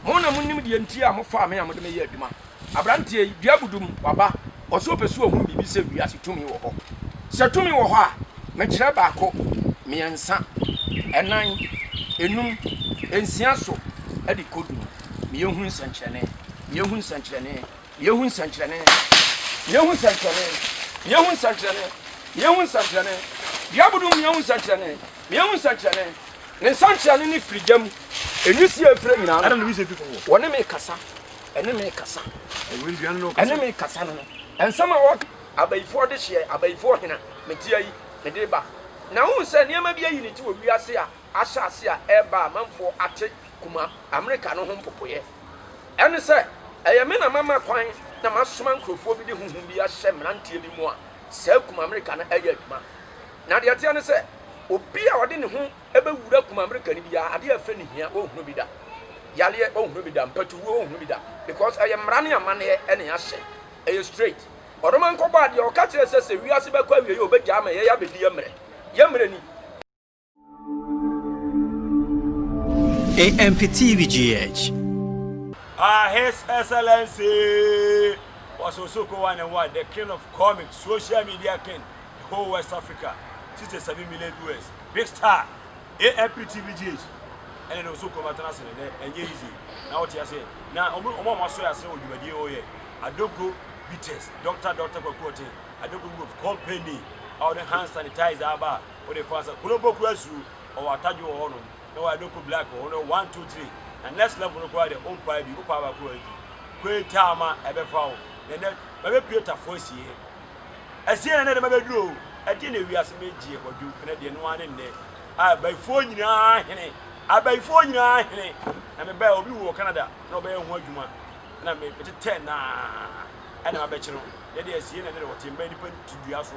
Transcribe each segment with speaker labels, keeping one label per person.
Speaker 1: Mo na monim deɛ nti a mofaa me a mode me yɛ adwuma. Aberanteɛ yi, dua abudum, waba, ɔse ɔpɛ sɛ ɔhunu biribi sɛ wiase tumi wɔ hɔ. Sɛ tumi wɔ hɔ a, mekyerɛ baako, mmiɛnsa, ɛnan, ɛnum, ɛnsia so de kɔ du no, meyɛ hu nsɛnkyerɛnne, meyɛ hu nsɛnkyerɛnne. Yɛhu nsɛnkyerɛnne, yɛhu nsɛnkyerɛnne, yɛhu nsɛnkyerɛnne, yɛhu nsɛnkyerɛnne. Dua bodoo mu yɛhu nsɛnkyerɛnne, yɛhu nsɛnkyerɛnne. Ne nsɛnkyerɛnne ne firi gya mu, enwisi a efiri anyina ano. Wɔne
Speaker 2: me kasa,
Speaker 1: ɛne me kasa, ɛne me kasa no. Nsɛm a wɔka. Abayifoɔ dehyeɛ, abayifoɔ hena? Meteɛ yi, mede ba. Na wohu sɛ nneɛma bi ayi ne ti wɔ wiase a ahyɛase a ɛreba a amanfoɔ ate kuma Amerika no ho mpopoeɛ. Ɛne sɛ, Ɛyɛ me na mama kwan na masoma nkurɔfoɔ bi de honhom bi ahyɛ mmeranteɛ bi mu a saa kuma Amerika no yɛ adwuma. Na deɛ ɛteɛ ne sɛ, obi a ɔde ne ho bɛwura kuma Amerika no biara, adeɛ a ɛfɛ no hia ɔnhunu bi da, yareɛ ɔnhunu bi da, mpatuwuo ɔnhunu bi da, because ɛyɛ mmara ne amanneɛ na yɛahyɛ. Ɛyɛ straight. Ɔdoma Nkɔbɔ a deɛ ɔka kyerɛɛ sɛ sɛ wiase bɛkɔ awieɛ a ɔbɛgyaa ma yɛn abɛdi yɛn mmerɛ. Yɛn mmerɛ ni.
Speaker 3: AMPTVGH. Ah,
Speaker 2: His Excellency was also co one and one, the king of comic, social media king, the whole West Africa, 67 million viewers, big star, AMPTVGH. ɛne ne nso kɔma tena ase ne dɛ ɛnyɛ easy na wote ase na ɔmo ɔmo ɔmo aso ase wɔ dwumadie ɔyɛ adoko bitters doctor doctor kwakuo ten adoko group company a ɔde hand sanitizer aba Wo de fa sɛ kunu bɔ kura su ɔwɔ atadwo wɔ hɔ nom na wayɛ no kɔ black wɔ hɔ nom one two three na next level no koraa deɛ ompae bi wopae baako wɔ adi kɔɛ taa ma ɛbɛfa wo na nɛ mabɛ pie tafo asie asie na nɛ de mabɛ duro o ɛdeɛ na ewi ase me gyeɛ kwadwo ɛnɛ deɛ no ane nɛ a bayifoɔ nyinaa hene abayifoɔ nyinaa hene na me bɛɛ obi wɔ Canada na ɔbɛyɛ ho adwuma na me metetɛ naa ɛna mabɛkye no nɛ deɛ asie na nɛ de wɔte mbɛ nipa tudua so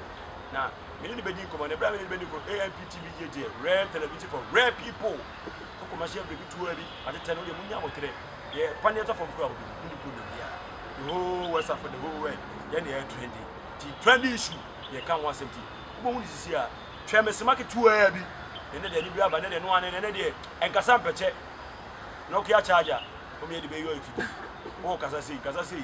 Speaker 2: na me ne no bɛdi nkɔmmɔ na ɛberɛ a me ne no bɛdi nkɔmmɔ amp tv gyegyeɛ rare television for rare people koko ma hyɛ biribi tuo bi atetɛ no deɛ mo nya abotere deɛ pa ne ɛtɔ fam kura ahodoɔ mo ne kuro na bia the whole west africa the whole world yɛn deɛ ɛyɛ trendy ti trendy issue deɛ ka ho asɛm ti wobɛhu ne sisi a twɛ me sema ketewa bi ne ne deɛ ne bi aba ne deɛ no ane ne ne deɛ ɛnkasa mpɛkyɛ nokia charger wɔn yɛ de bɛyɛ afidie wɔn kasa sei kasa sei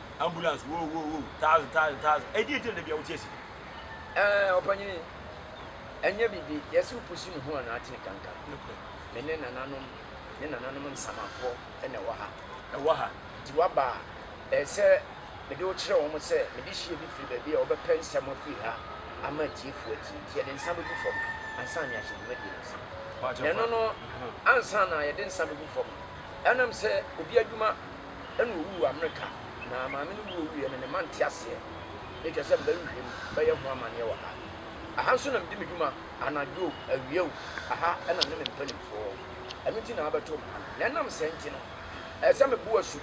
Speaker 2: Ambulance, woo woo woo, thousand thousand thousand. Ɛdi nti na dabi a wote asi. Ɛɛ
Speaker 1: ɔpanyin yi, ɛnyɛ biribi, yɛse wo pusi ne ho a na atene kankan. Me ne nananom ne nananom nsamafoɔ na ɛwɔ ha. Ɛwɔ ha. Nti woaba a, ɛyɛ sɛ mede wo kyerɛ wɔn sɛ me de hyeɛ bi firi baabi a wɔbɛpɛ nsɛm afiri ha ama atiefoɔ atie. Nti yɛde nsa bɛgu fam ansa na yɛahyɛ dwumadie no ase. Na ɛno no, ansa na yɛde nsa bɛgu fam no, ɛnam sɛ obi adwuma. ɛna owu wɔ Amerika na maame no wu owuiɛ no ne mma nte aseɛ ne kyerɛ sɛ mɛhwehwɛ mu bɛyɛ ho amaneɛ wɔ ha. Aha nso na medi me dwuma anadwo o, awia o, aha na me ne me mpanimfoɔ. Ɛno nti na wɔabɛtoo me ha no. Na ɛnam sɛɛ nti no, ɛsɛ sɛ mebo asu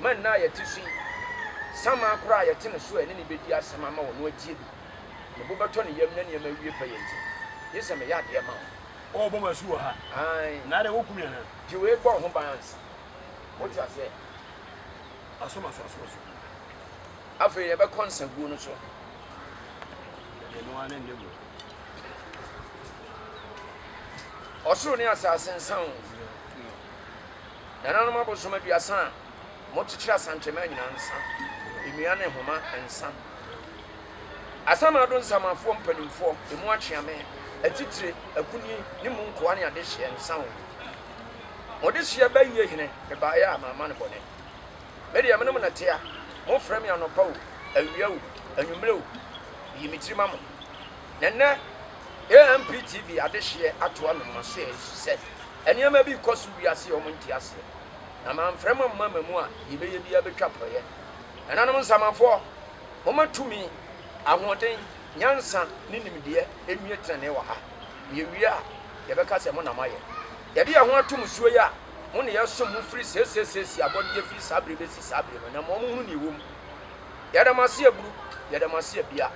Speaker 1: ma nna a yɛte so yi, samaa koraa a yɛte ne so a ɛne no bɛdi asɛm ama wɔn no atie bi. Me bo bɛtɔ ne yam na nneɛma awie pɛyɛ nti, gye sɛ meyɛ adeɛ ma wo. Wɔrebɔ me asu wɔ
Speaker 2: ha. Aane. Anaadɛ wɔreku
Speaker 1: me anaa?
Speaker 2: Gye wei bɔ wo ho ban
Speaker 1: ansa. Mote aseɛ?
Speaker 2: Masom asase so.
Speaker 1: Afei yɛbɛkɔ nsaguo no so.
Speaker 2: Yɛde no ara ne nne mu.
Speaker 1: Ɔsoro ne asase nsa o. Nananom abosom aduasa a mokyekyere asankyɛma nyinaa nsa. Nnua ne nhoma nsa. Asamado nsamafoɔ mpanimfoɔ, emu akyeame, atitire, akunini ne mu nkoa ne adehyeɛ nsa o. Mo desua bɛyie hene mebaeɛ a mamma no bɔne Me deɛ menom nɛte a mofrɛ me anɔpa o awia o anwummerɛ o Meyi me tiri ma mo Na nnɛ AMP TV adehyeɛ atoa me mo aseɛ Ɛfiri sɛ nneɛma bi rekɔ so wiase a wɔnte aseɛ Na mamfrɛ mo amma ma mu a deɛ ɛbɛyɛ biara bɛtwa porɔeɛ Nananom nsamanfoɔ momma tumi, ahoɔden, nyansa ne nimdeɛ nnue tenenee wɔ ha Yewie a, yɛbɛka sɛ, Mo na moayɛ. Yɛde yɛn ho ato mo so yi a, mo na yɛsom mo firi seesei-seesei abɔdeɛ firi saa bere yi bɛsi saa bere no, na ma wɔnhunu deɛ ɛwɔ mu. Yɛda mo ase aburu, yɛda mo ase abia.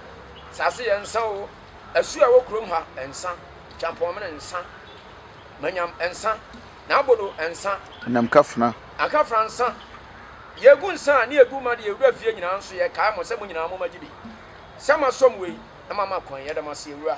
Speaker 1: Saase yɛ nsã oo, asuo a ɛwɔ kurom ha, nsã, kyampɔnmene, nsã, manyam, nsã, n'abodo, nsã, Anamkafena.
Speaker 3: ankafena, nsã,
Speaker 1: deɛ ɛgu nsã a ne ɛgu ma deɛ ɛwura fie nyinaa nso, yɛkae mo sɛ mo nyinaa mommɛgye bi. Sɛ moasom wei, na moama kwan, yɛda mo ase, Awura.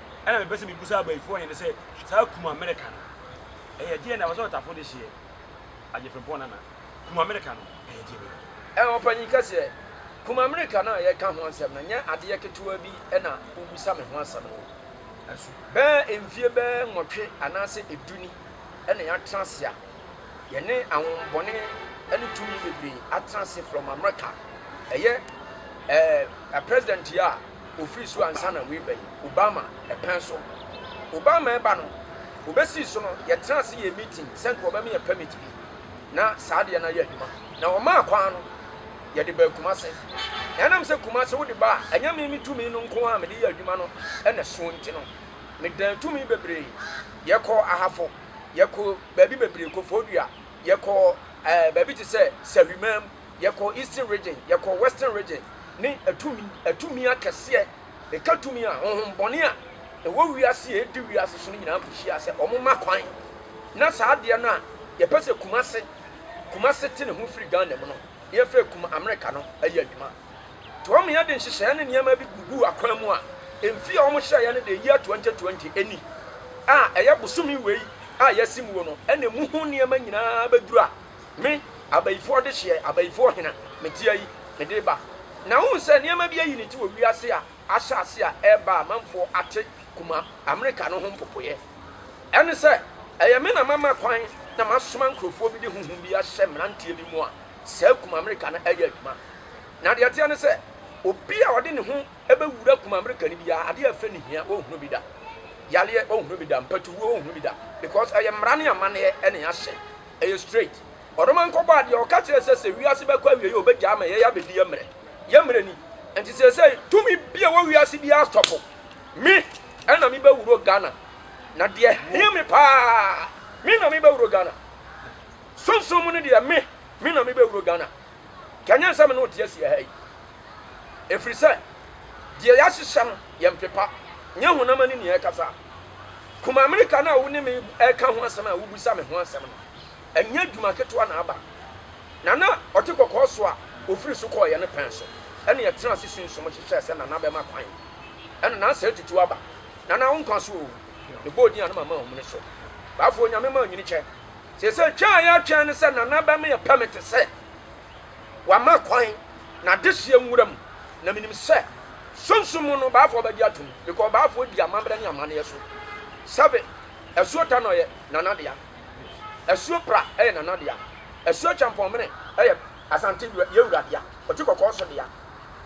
Speaker 2: ɛna mepɛ sɛ mebisa abayifoɔ he ne sɛ, saa kum Amerika no, ɛyɛ deɛ na ɛwɔ sɛ ɔtafo de hyeɛ? Agye Frimpong Nana, kum Amerika no, ɛyɛ deɛ bɛn? Ɛɛ, ɔpanyin kɛseɛ,
Speaker 1: kum Amerika no a yɛreka ho asɛm no, nyɛ adeɛ ketewaa bi na wobisa me ho asɛm no o. Bɛɛ mfie bɛɛ nwɔtwe anaasɛ du ni na yɛatena ase a. Yɛne ahonhommɔne ne tumi bebree atena ase from America. Ɛyɛ ɛɛ president yi a ofiri so ansa na wei bɛyi Obama ɛpɛn so. Obama ɛba no, obesii so no, yɛtena ase yɛ meeting sɛ nka ɔbɛma yɛ permit bi na saa adeɛ no ayɛ adwuma. Na ɔmaa kwan no, yɛde baa Kumase. Na ɛnam sɛ Kumase wode ba a, ɛnyɛ me me tumi no nko ara a mede yɛ adwuma no na ɛsoɔ nti no, medaa tumi bebree. Yɛkɔɔ Ahafo. yɛkɔ baabi bebree, Koforidua, yɛkɔ ɛɛ baabi te sɛ Sahwimaam, yɛkɔ Eastern Region, yɛkɔ Western Region, ne atumi atumi akɛseɛ, ɛka tumi a honhom bɔne a ɛwɔ wiase a ɛdi wiase so no nyinaa kɔhyia sɛ wɔn ma kwan na saa adeɛ no a yɛpɛ sɛ Kumase Kumase te ne ho firi Ghana mu no yɛfrɛ Kuma Amerika no ɛyɛ adwuma. Tom yɛ de nhyehyɛɛ ne nneɛma bi guguu akwan mu a mfe a wɔhyɛeɛ no de year 2020 ɛni a ɛyɛ bosome wei a yɛasi muo no ɛna ɛmu ho nneɛma nyinaa bɛdura me abayifoɔ dehyeɛ abayifoɔ hena mete ayi mede ba na wohu sɛ nneɛma bi ayi ne ti wɔ wiase a ahyɛ ase a ɛreba a manfoɔ ate kuma Amerika no ho mpopoeɛ ɛne sɛ ɛyɛ me na mama kwan na masoma nkurɔfoɔ bi de honhom bi ahyɛ mmeranteɛ bi mu a saa kuma Amerika no ɛyɛ adwuma Na deɛ ɛteɛ ne sɛ, obi a ɔde ne ho bɛwura kum Amerika no biara, adeɛ a ɛfɛ no hia, ɔrenhunu bi da. Yareɛ, ɔrenhunu bi da. Mpatuwuo, ɔrenhunu bi da. Because ɛyɛ mmara ne amanneɛ na yɛahyɛ. Ɛyɛ straight. Ɔdoma nkɔbɔ adeɛ, ɔka kyerɛɛ sɛ sɛ wiase bɛkɔ awieeɛ a, ɔbɛgyae ama yɛn abɛdi yɛn mmerɛ. Yɛn mmerɛ ni. Nti seesei, tumi bi a ɛwɔ wiase biara astɔpo me na mebɛwuro Ghana. Na deɛ ɛhia me pa ara, me na mebɛwuro Ghana. Sunsum mu no deɛ, me, me na mebɛwuro Ghana. Kanyan sɛ me ne wo te asie ha yi, ɛfiri sɛ deɛ yɛahyehyɛ no yɛ mpepa, nyɛ honam ani nea ɛkasa. Kum Amerika no a wo ne me reka ho asɛm a wobisa me ho asɛm no, ɛnyɛ adwuma ketewa na aba. Nana ɔte kɔkɔɔ so a ɔfiri so kɔeɛ no pɛn so na yɛtenaa ase sunsum hwehwɛɛ sɛ Nana bɛma kwan na na asɛe tutuw aba. Nana, wo nkwa so oo! Mebɔɔ din a na mama ahum no so. Baafoɔ, Onyame mma wo nyini kyɛ. Seesei twɛn a yɛretwɛn ne sɛ Nana bɛma yɛpɛ me te sɛ wama kwan n'adehyeɛ nwura mu, na menim sɛ Sunsum mu no Baafoɔ bɛgye atom because Baafoɔ di amammerɛ ne amanneɛ so. Seven, Asuo Tanɔ yɛ Nana dea, Asuo Pra yɛ Nana dea, Asuo Kyɛmpɔnmene yɛ Asante Yewura dea, Ɔti Kɔkɔɔ nso dea.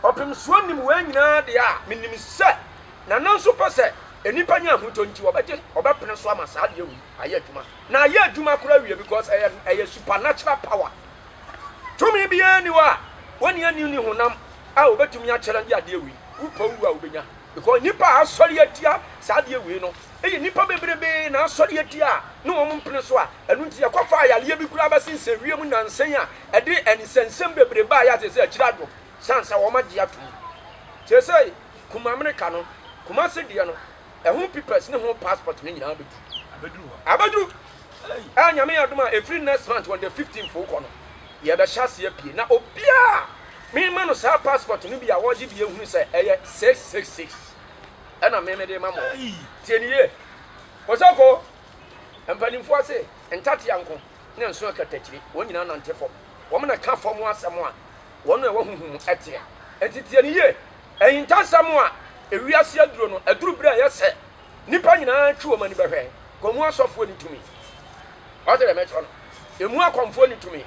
Speaker 1: Ɔpemsoɔ nim wei nyinaa deɛ a, menim sɛ Nana nso pɛ sɛ nnipa nya ahotɔ nti ɔbɛgye, ɔbɛpene so ama saa adeɛ wei. ayɛ adwuma na ayɛ adwuma koraa awie because ɛyɛ ɛyɛ supernatural power tumi biara ni hɔ a wɔne ani ni honam a wɔbɛtumi akyerɛ de adeɛ wei wopɛ wu a wobɛnya because nipa a asɔre atia saa adeɛ wei no ɛyɛ nipa bebrebe na asɔre atia a ne wɔn mpene so a ɛno nti yɛkɔfa ayareɛ bi koraa bɛsensɛn wiem nansan a ɛde ɛnsɛnsɛm bebrebe a yɛate sɛ akyiri adwo sansa wɔn agye atom sɛ sɛ kuma amerika no kuma se deɛ no ɛho pipɛs ne ho paspɔt no nyinaa bɛdu Abɛduru hɔ. abɛduru a Nyame yɛ adom a ɛfiri next month on the 15 foo kɔ no yɛbɛhyɛ aseɛ pie na obiaa mema no saa paspɔt no bi a ɔgye bi ɛhunu sɛ ɛyɛ 666 ɛna me mede ma mo Ei! tie ne yie Kosoko mpaninfoɔ se ntatea nko ne nso akatakyire wɔn nyinaa nante fam wɔn na ka fam asɛm a wɔn a ɛwɔ honhom mu teɛ. Enti tie no yie. Ahintasɛm a ewiase aduro no, aduru berɛ a ɛyɛ sɛ nnipa nyinaa twe wɔn ani bɛhwɛ. Komu asɔfoɔ nni tumi. Wate deɛ mɛkyerɛ no? Emu akɔmfoɔ nni tumi.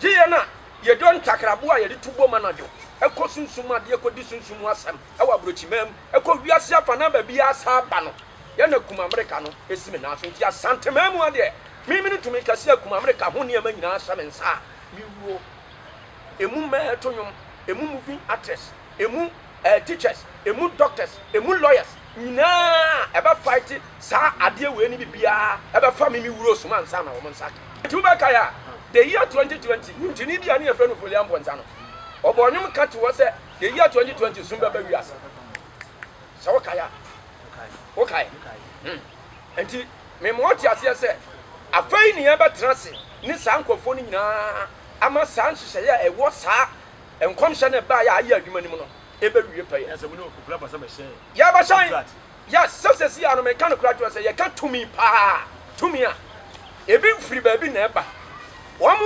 Speaker 1: Gye yɛn a yɛdɔ ntakraboa a yɛde tu bom anadwo kɔ sunsum adeɛ kɔdi sunsum mu asɛm wɔ aburokyimaa mu kɔ wiase afanaa baabiara saa ba no. Yɛn na Kum Amerika no si me nan so. Enti Asanteman mu ha deɛ, me me ne tumi kɛseɛ a Kum Amerika ho nneɛma nyinaa hyɛ me nsa a, mewuo. emu mmaa to nnwom, emu movie actress, emu eh, teachers, emu doctors, emu lawyers nyinaa ɛbɛ fight saa adeɛ wei ne bibiaa ɛbɛ fa mimi wuro soma nsa na wɔn nsa aka. Nti wobɛ kae a, the year 2020 nwonkyerni bi a ne yɛfrɛ no Folian Bonsah no, ɔbɔɔ nnwom ka to hɔ sɛ the year 2020 sum bɛba wiase. Sɛ wo kae a, wo kae. Hmm. Enti mema wɔte aseɛ sɛ, afei ne yɛbɛtena ase ne saa nkurɔfoɔ no nyina ara ama saa nhyehyɛeɛ a ɛwɔ saa nkɔmhyɛ no a ɛbaeɛ a ayɛ adwuma no mu no bɛwie pɛyɛ.
Speaker 2: Yɛbɛsan,
Speaker 1: yes, sɛ seesei ara no meka nokorɛ akyerɛ wo sɛ yɛka tumi pa ara, tumi a ebi mfiri baabi na ɛba. Wɔn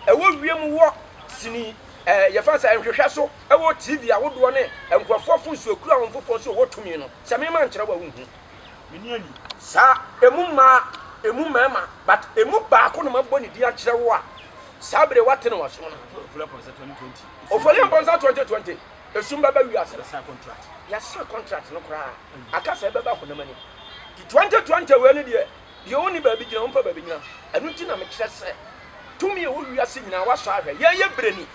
Speaker 1: a ɛwɔ wiem wɔ sini, ɛɛ, yɛfrɛ no sɛ nhwehwɛ so, ɛwɔ TV ahodoɔ ne nkurɔfoɔ afonsuo kura wɔn foforɔ sɛ wɔwɔ tumi no, sɛ mema nkyerɛ wo a wonhu.
Speaker 2: Saa emu
Speaker 1: mmaa, emu mmarima, but emu baako na mabɔ ne din akyerɛ wo a, saa bere wate no w'asom no. Ofolian Bɔnsa 2020, esum bɛba wiase no.
Speaker 2: Yɛasan contract
Speaker 1: no koraa, aka sɛ ɛbɛba honam ani. Nti 2020 wei no deɛ, deɛ ɔnni baabi gyina, ɔmpɛ baabi nyina. Ɛno nti na mekyerɛ sɛ, tumi a ɛwɔ wiase nyinaa, woasɔ ahwɛ, yɛn yɛ berɛni,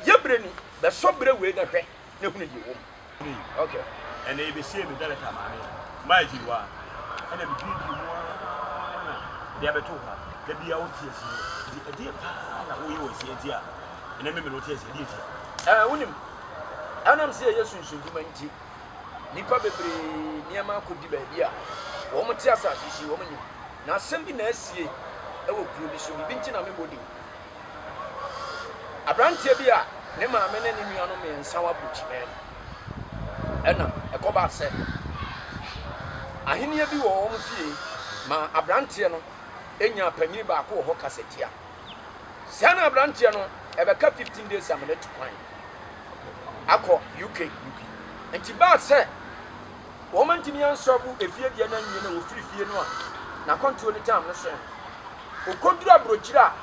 Speaker 1: yɛ berɛni, bɛsɔ berɛ wei na hwɛ. na hunu deɛ ɛwɔ mu. Okay. Ɛnna yɛbɛsiee
Speaker 2: me dɛlɛta maame maa agyiriwa ɛnna medwiridwiri mu ara na de abɛto hɔ da biara wo te asie nti ɛdeɛ paa na woyɛ wɔ asie nti a ɛnɛ me me no te asie ɛdeɛ nti a. Ɛɛ wonim
Speaker 1: ɛnam sɛ ɛyɛ sunsundwuma nti nnipa bebree nneɛma akɔdi baabi a wɔn te asase so yi wɔn nim na asɛm bi na asie ɛwɔ kuro bi so biribi nti na mebɔ din. Aberanteɛ bi a ne maame ne ne nuanom mmiɛnsa wɔ aburokyimɛn. Ɛna ɛkɔbaa sɛ ahenneɛ bi wɔ wɔn fie ma aberanteɛ no nyaa panyin baako wɔ hɔ kasatia. Saa na aberanteɛ no ɛbɛka 15 days amena tu kwan akɔ UK. Nti baa sɛ Wɔantumi ansɔ bo efie deɛ no anwie na wɔfiri fie no a n'akwantuo no tam no sɛn. Ɔkɔduru aburokyire a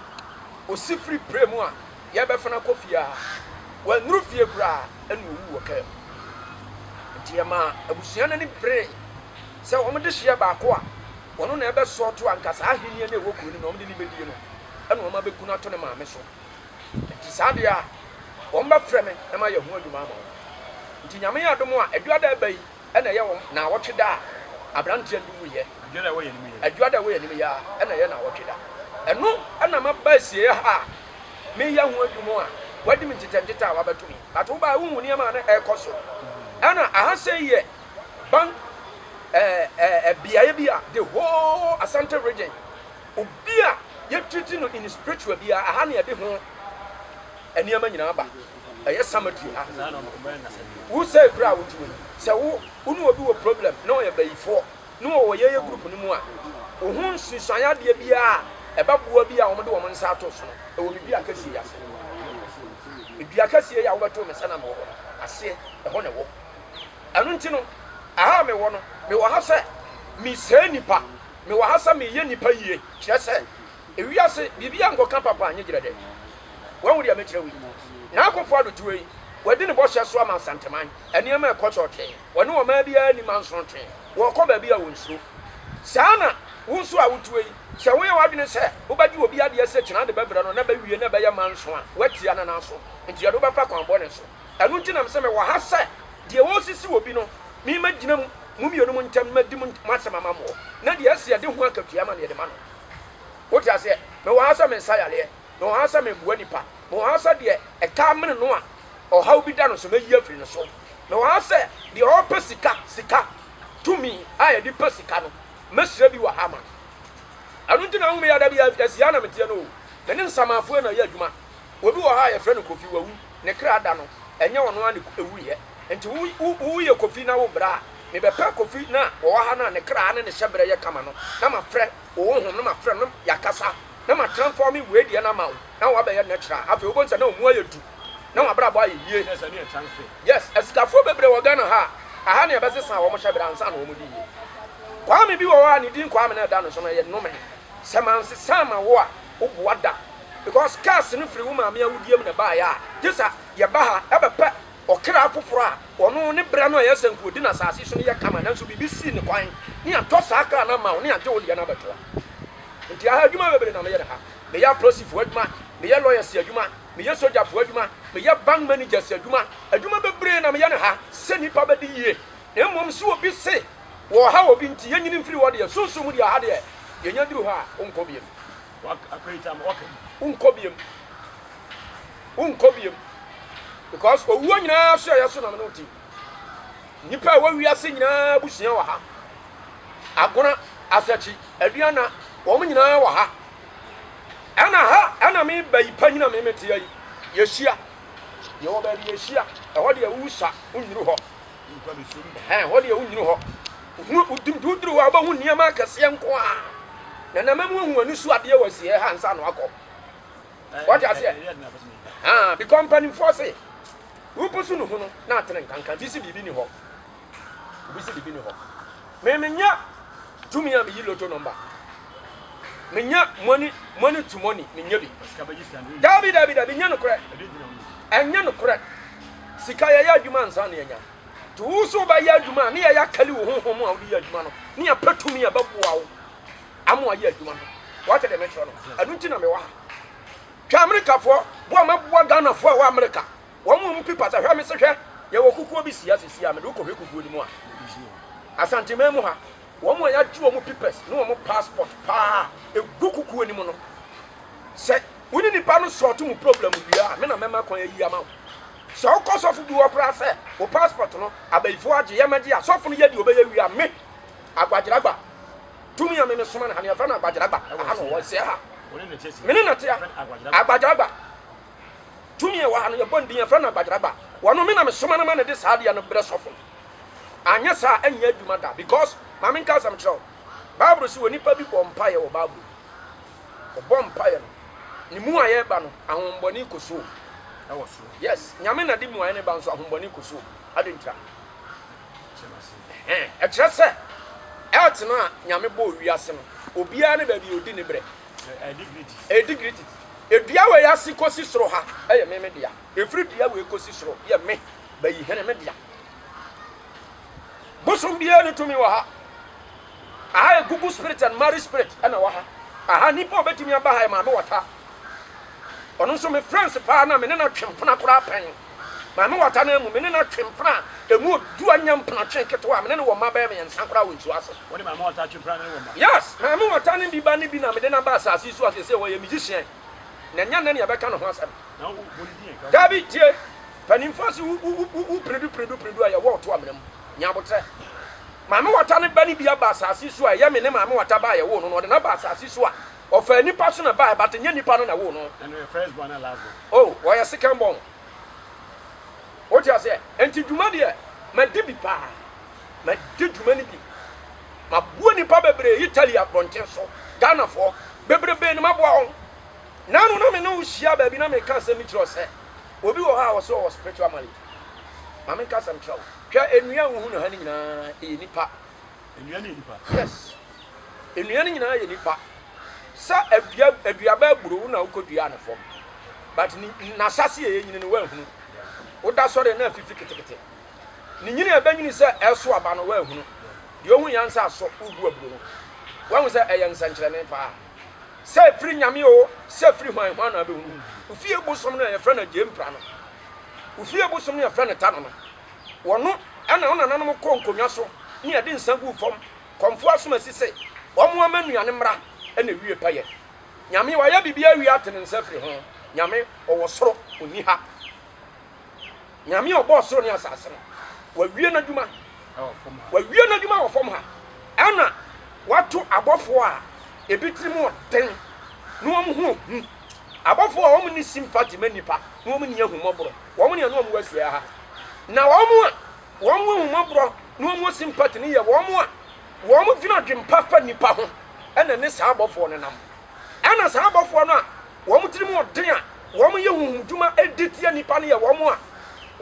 Speaker 1: ɔsi firi prɛ mu a yɛrebɛfa no akɔ fie a wannuru fie koraa na ɔwuu wɔ kaa mu. Enti ɛmaa abusua no ani beree sɛ wɔn dehyeɛ baako a ɔno na ɛbɛsɔɔto anka saa ahennie no a ɛwɔ kuro no mu na wɔde no bɛdie no na wɔabɛku no ato ne maame so. Nti saa deɛ a, wɔn bɛ frɛ me na mayɛ ho adwuma ama wɔn. Nti Nyame adom a, Adwuada a ɛba yi na ɛyɛ wɔn naawɔtwe da a abranteɛ no wuiɛ. Adwuada a ɛwɔ yɛn anim yi ara.
Speaker 2: Adwuada a ɛwɔ yɛn anim yi ara
Speaker 1: na ɛyɛ naawɔtwe da. Ɛno na maba asieɛ ha a meyɛ ho adwuma a wadi me ntetɛntetɛ a wabɛto me yi. But wo baeɛ wonhu nneɛma a na ɛrekɔ so. Ɛna aha sei yɛ bank ɛɛ ɛɛ beaɛ bi a the whole Asante region Obi a yɛtreati no in spiritual biara, aha na yɛde ho nneɛma nyinaa ba. Ɛyɛ cemetery ha. Wo sɛe koraa a wote wɔ yi, sɛ wo wo ne obi wɔ problem na ɔyɛ bayifoɔ na ɔwɔ yɛyɛ group no mu a, wo ho nsusuan adeɛ biara a ɛbɛboa bi a wɔde wɔn nsa ato so no, ɛwɔ me dua kɛseɛ yi ase. Me dua kɛseɛ yi a wobɛtoo me sɛ na mewɔ hɔ no aseɛ, ɛhɔ na ɛwɔ. Ɛno nti no, aha a mewɔ no, mewɔ ha sɛ mesɛe nnipa. Mewɔ ha sɛ mereyɛ nnipa yie, kyerɛ sɛ, ewiase biribiara nkɔka papa nye gyerɛdɛ. Woahu deɛ mekyerɛ wo yi? Nana Akufo-Addo ti wɔ yi, wadi ne bɔhyɛ so ama Nsanteman. Nneɛma rekɔ kyɔɔtwee. Wɔne ɔman biara nni ma nsonontwee. Wɔrekɔ baabi a wɔnsuro. Saa ara na wo nso a woteɛ yi, sɛ woyɛ w'adwene sɛ wobɛgye obi adeɛ sɛ kyena ade bɛbrɛ no na bɛwie na ɛbɛyɛ manso a, woatia Nana so. Enti yɛde wo bɛfa kwan bɔne so. Ɛno nti na mese mewɔ ha sɛ deɛ wɔresisi wɔ bi no, me mɛgyina mu, mo mmienu mo ntam, madi mo asɛm ama moɔ, na deɛ ɛsi a de ho akatua ama no yɛde ma no. Wote aseɛ? Mewɔ ha sɛ mensa yareɛ, mewɔ ha sɛ meboa nnipa, mewɔ ha sɛ deɛ ɛtaa mene no a ɔhaw bi da no so, mɛyi afiri ne so. Mewɔ ha sɛ deɛ ɔrepɛ sika, sika, tumi a yɛde pɛ sika no, mɛhyira bi wɔ ha ama no. Ɛno nti na wohu me yɛ da biara, ɛsi ha na meteɛ no o, me ne nsamaafoɔ na yɛ adwuma, Obi wɔ hɔ a yɛfrɛ no Kofi, wawu, ne kra da no, ɛnyɛ ɔno ara na ɛwuiɛ. Nti wo, wo, woyɛ Kofi na wobrɛ a, mebɛpɛ Kofi no a ɔwɔ ha no a ne kra ne ne hyɛberɛ yɛ kama no, na mafrɛ wo honhom no, mafrɛ no, na yɛakasa, na ma transforming wei deɛ no ama wo, na wabɛyɛ natural. Afei wobɛhu sɛ na ɔmu ayɛ du, na w'abrabɔ ayɛ yie. Kyerɛ sɛ ne yɛ transfer. Yes, asikafoɔ bebree wɔ Ghana ha a, aha na yɛbɛsesa wɔn hyɛberɛ ansa na wɔn de yie. Kwame bi wɔ hɔ a ne din Kwame na ɛda ne so no, ɛyɛ nnome. Sɛ mansesa amma wo a, wo boa da because curse no firi wo maame awudie mu na ɛbaeɛ a gye sa yɛba ha ɛbɛpɛ ɔkra foforɔ a ɔno ne berɛ no a ɛyɛ sɛ nka ɔdi no asase so no yɛ kama nanso biribi sii ne kwan ne atɔ saa kra no ama wo ne agye wo deɛ no abɛtoa nti aha adwuma bebree na meyɛ no ha meyɛ apolisifoɔ adwuma meyɛ lawyers adwuma meyɛ sogyafoɔ adwuma meyɛ bank managers adwuma adwuma bebree na meyɛ no ha sɛ nipa bɛdi yie na mmom sɛ obi se wɔ ha obi nti yɛnyini mfiri hɔ deɛ sunsum mu deɛ aha deɛ yɛnya duru hɔ a wonkɔ biem. W'akwaagyaa ma w'aka mu. Wonkɔ biom. Wonkɔ biom. Because owuo nyinaa so ɛyɛ so na me ne wo te. Nnipa a ɛwɔ wiase nyinaa abusua wɔ ha. Agona, Asakyi, Aduana, wɔn nyinaa wɔ ha. Ɛna ha ɛna me ba yi pa nyina me metea yi. Yɛhyia. Yɛwɔ baabi yɛhyia. Ɛhɔ deɛ wosa wonnuru hɔ. Ɛhɛn, hɔ deɛ wonnyini hɔ. Wohunu, wodim de woduru hɔ a wobɛhu nneɛma akɛseɛ nko a. Na na mɛmu ahu ani so adeɛ wɔ asieɛ ha ansa na wakɔ. Wɔte aseɛ? Ɛhɛn, bikɔ mpanimfoɔ se, wopɛ so no hu no na atene nkanka. Bi se biribi ni hɔ. Bi se biribi ni hɔ. Me menya tumi a meyi loto nɔmba. Menya money, money to money, menya bi. Dabi, dabi, dabi, nyɛ nokorɛ. Ɛnyɛ nokorɛ. Sika, yɛyɛ adwuma ansa na yɛanya. Nti wo nso wobɛyɛ adwuma a, ne yɛyɛ akali wo honhom a wode yɛ adwuma no, ne yɛapɛ tumi a ɛbɛboa wo ama woayɛ adwuma no. Woate deɛ mekyerɛ no? Ɛno nti na mewɔ ha. Hwɛ Amerikafoɔ, boa mɛboa Ghanafoɔ a ɛwɔ Amerika. Wɔn a wɔpipa sɛ hwɛ me se hwɛ, yɛwɔ kukuo bi si ha sesia, mede wokɔhwɛ kukuo no mu a, Asanteman mu ha, Wɔn a yɛagye wɔn pipɛs ne wɔn paspɔt paa gu kukuo no mu no, sɛ wo ne nipa no sɔɔto mu problem wie a, me na mɛma kwan ayi ama wo. Sɛ wokɔ sɔfo bi hɔ koraa sɛ wo paspɔt no abayifoɔ agye yɛ mɛgye a, sɔfo no yɛ deɛ ɔbɛyɛ wie a, me Agbagyeragba, tumi a me mesoma no ha no, yɛfrɛ no Agbagyeragba, aha na ɔwɔ, ɔsɛ ha, me ne no te a, Agbagyeragba. Tumi a ɛwɔ ha no, yɛbɔ ne din, yɛfrɛ no abagyeraba. Wɔno me na mesoma no ma no de saa adeɛ no brɛ sɔfo no. Anyɛ saa a, ɛnyɛ adwuma da. Because, ma menka asɛm nkyerɛ wo. Bible se onipa bi bɔ mpaeɛ wɔ Bible mu. Ɔbɔ mpaeɛ no, ne muaeɛ reba no, ahonhommɔne kɔ suom. Ɛwɔ soro. Yes, Nyame na de muaeɛ no ba nso ahonhommɔne kɔ suom. Adɛn ntira? Ɛkyerɛ sɛ, earth no a Nyame bɔɔ wiase no, obiara ne baabi a ɔdi ne berɛ. Ɛredi gritty. Dua wei ase kɔsi soro ha yɛ me me dea. Ɛfiri dua wei kɔsi soro yɛ me, Bayihene, me dea. Bosom biara ne tumi wɔ ha. Aha yɛ Google spirit and marriage spirit na wɔ ha. Aha nipa a ɔbɛtumi aba ha yɛ maame wata. Ɔno nso me friends paa na me ne no atwe mpena koraa pɛn. Maame wɔ atanaa mu. Me ne no atwe mpena a emu du anya mpenatwe nketewa a me ne no wɔ mma bɛyɛ mmiɛnsa koraa wɔ nsuo ase. Wo ne maame wɔ ata atwe mpena ne no wɔ mma? Yes, maame wɔ ata ne bi ba ne bi na mede no aba asase yi so a seesei ɔyɛ me gyesiɛn na ɛnyɛ nnɛ na yɛbɛka ne ho asɛm. Na wo bɔ ne din a? Daabi, tie. Mpaninfoɔ se wo, wo, wo, wo piridu, piridu, piridu a yɛwɔ wo to amena mu. Nya aboterɛ. Maame wɔ ata ne ba ne bi aba asase yi so a ɛyɛ me ne maame wɔ ata ba a yɛwoo no no, ɔde no aba asase yi so a Ɔfaa nipa so na bae but nyɛ nipa no na woo no. Ɛna ɔyɛ first born and last born. Oh ɔyɛ second born. Wote aseɛ? Nti dwuma deɛ madi bi paa. Madi dwuma no bi. Maboa nipa bebree Italy abɔnten so. Ghanafoɔ bebrebee na maboa wɔn. Nano na me ne wo hyia baabi na meka asɛm bi kyerɛ wo sɛ obi wɔ hɔ a ɔse ɔwɔ spiritual malady. Ma menka asɛm kyerɛ wo. Hwɛ nnua a wohu no ha no nyinaa ɛyɛ nipa. Nnuan yɛ nipa. Yes nnuan nyinaa yɛ nipa sɛ adua aduaba aburo wo na wokɔ dua ne fam but ni n'asase yɛ nyini no wahunu woda sɔre na afifi ketekete ne nyini a ɛbɛnyini sɛ ɛso aba no wahunu deɛ ohun yɛn sɛ asɔ wobu aburo no wahu sɛ ɛyɛ nsɛnkyerɛnne paa sɛ firi nyame o sɛ firi hwan hwan na abɛhunu ofie bosom no a yɛfrɛ no agyempra no ofie bosom no yɛfrɛ no tano no Wɔno na wo nananom kɔɔ nkonnwa so ne ɛde nsa guu fam kɔmfoɔ asomasi se wɔmmoa ma nnuane mmra na ɛwie payɛ. Nyame wayɛ biribiara awie ate ne nsa firi ho. Nyame ɔwɔ soro ɔnni ha. Nyame ɔbɔɔ soro ne asase no wawie n'adwuma wawie n'adwuma wɔ fam ha ɛna wato abɔfoɔ a ebi tirim ɔden na wɔn ho ɔhu abɔfoɔ a wɔn nni simpati ma nnipa na wɔn nni ahummɔborɔ. wɔn ne ɛno a wɔahyia ha, na wɔn a wɔn ahummɔborɔ na wɔn sympathy no yɛ wɔn a wɔn dwene adwempa fa nnipa ho, ɛna ne saa abɔfoɔ no nam. Ɛna saa abɔfoɔ no a wɔn tirim ɔden a wɔn yɛ huhum dwuma ɛdi tia nnipa no yɛ wɔn a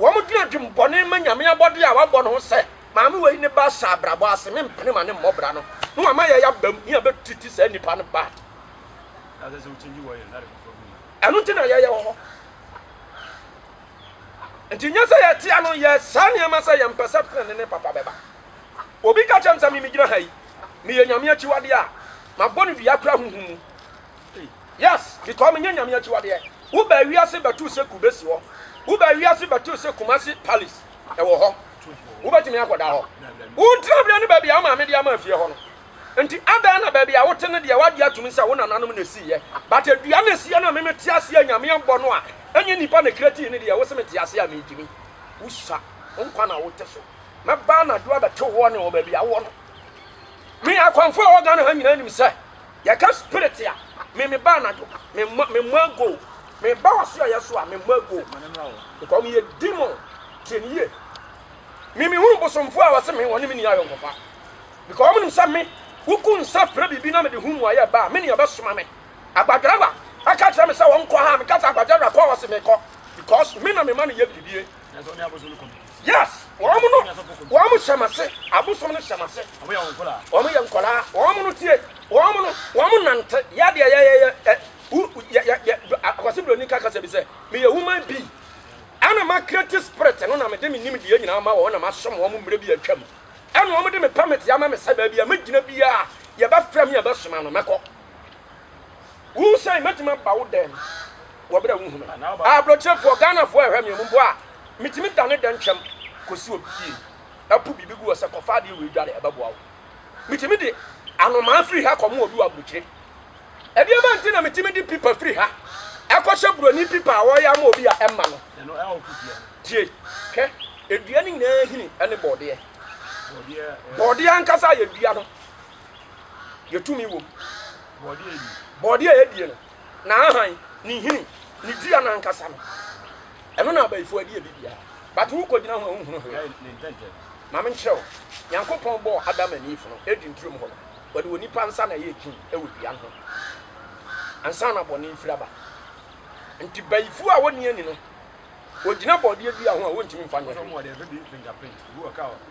Speaker 1: wɔn dwene adwembɔne ma Nyame abɔdeɛ a wabɔ no ho sɛ, maame wei ne ba hyɛ abrabɔ ase, me mpene ma ne mmɔbra no, na wama yɛ yabam ne yabɛtiti saa nnipa no bad. Ɛno nti na yɛyɛ wɔ hɔ. nti nyɛ sɛ yɛte ano yɛ saa nneɛma sɛ yɛmpɛ sɛ tenene ne papa bɛba. Obi ka kyerɛ me sɛ me megyina ha yi, meyɛ Nyame akyiwadeɛ a, mabɔ no dua koraa honhom mu. Yes, because menyɛ Nyame akyiwadeɛ. Wobaa wiase bɛtoo sɛ kube si hɔ, wobaa wiase bɛtoo sɛ Kumasi Palace ɛwɔ hɔ, wobɛtumi akɔda hɔ. Wo ntenaberɛ ne baabi a wo maame de ama fie hɔ no, Nti adɛn na baabi a wote no deɛ wagye atum sɛ wo nananom na ɛsiiɛ, but dua no ɛsiiɛ no a me me te aseɛ Nyame abɔ no a ɛnyɛ nipa na creatii no deɛ wose me te aseɛ a me gyimi? Wo sua, wo nkwa na wote so. Mɛba anadwo abɛto woɔ ne wɔ baabi a wowɔ no. Me akwanfo a ɛwɔ Ghana ha nyinaa nim sɛ yɛka spirit a me me ba anadwo me mmɔ me mmɔ ago me ba wɔ so a yɛso a me mmɔ ago because me yɛ demon tiɛ ne yie me me hunu bosomfo a wɔse me wɔne me ni ayɔnkofa Because wɔnim sɛ me, woku nsa frɛ biribi na mede ho mmuaeɛ ba a, me ne ɛbɛsoma me. Agbadwara bɛka kyerɛ me sɛ wɔnkɔ ha a, meka sɛ agbadwara kɔ a, ɔse mekɔ. Because me na mema no yɛ biribi. Yes, wɔn no, wɔn hyɛ m'ase, abosom no hyɛ m'ase. Wɔn yɛ nkwadaa, wɔn no tie, wɔn no, wɔn nante, yɛ deɛ yɛyɛyɛ, ɛ, wo, yɛ, yɛ, yɛ, akwasi buroni ka kasa bi sɛ, meyɛ woman bi, ɛna ma creative spirit no na mede me nimdeɛ nyinaa ma wɔn na masom wɔn mmerɛ bi atwam. Ɛna wɔn de me pamiti ama me sɛ baabi a me gyina biara a yɛ bɛ frɛ me a bɛ soma no mɛ kɔ. Wo sɛn mɛ tumi aba wo dɛm wɔ bere a wo hu me? Abrokyire foɔ, Ghana foɔ ɛhwɛ me mu bo a me tumi da ne dɛn twɛm kɔ si obi fie ɛpo biribi gu hɔ sɛ kɔ fa adeɛ wei dware ɛbɛ boa wo. Me tumi de anomaa firi ha kɔ mo obi wɔ abrokyire. Ɛdeɛn ma nti na metumi de pipa firi ha ɛkɔhyɛ buroni pipa a ɔreyɛ ama obi a ɛmma no? Tie, hwɛ, edua no nyinaa hini ne bɔɔdeɛ. Bɔɔdeɛ ankasa a yɛdua no, yɛtumi wom. Bɔɔdeɛ a yɛdie no, n'ahan, ne nhini, ne dua no ankasa no, ɛno na abayifoɔ adi adi biara. But wokɔgyina ho a wonhunu hwee. Ma menkyerɛ wo, Nyankopɔn bɔɔ Adam and Eve no, Eden turom hɔ no. Wɔde onipa nsa na ɛyɛ adwuma wɔ dua no ho ansa na bɔne refiri aba. Nti bayifo a wɔnni ani no, wɔgyina bɔdeɛ dua ho a wɔntumi mfa nyɛ hwee.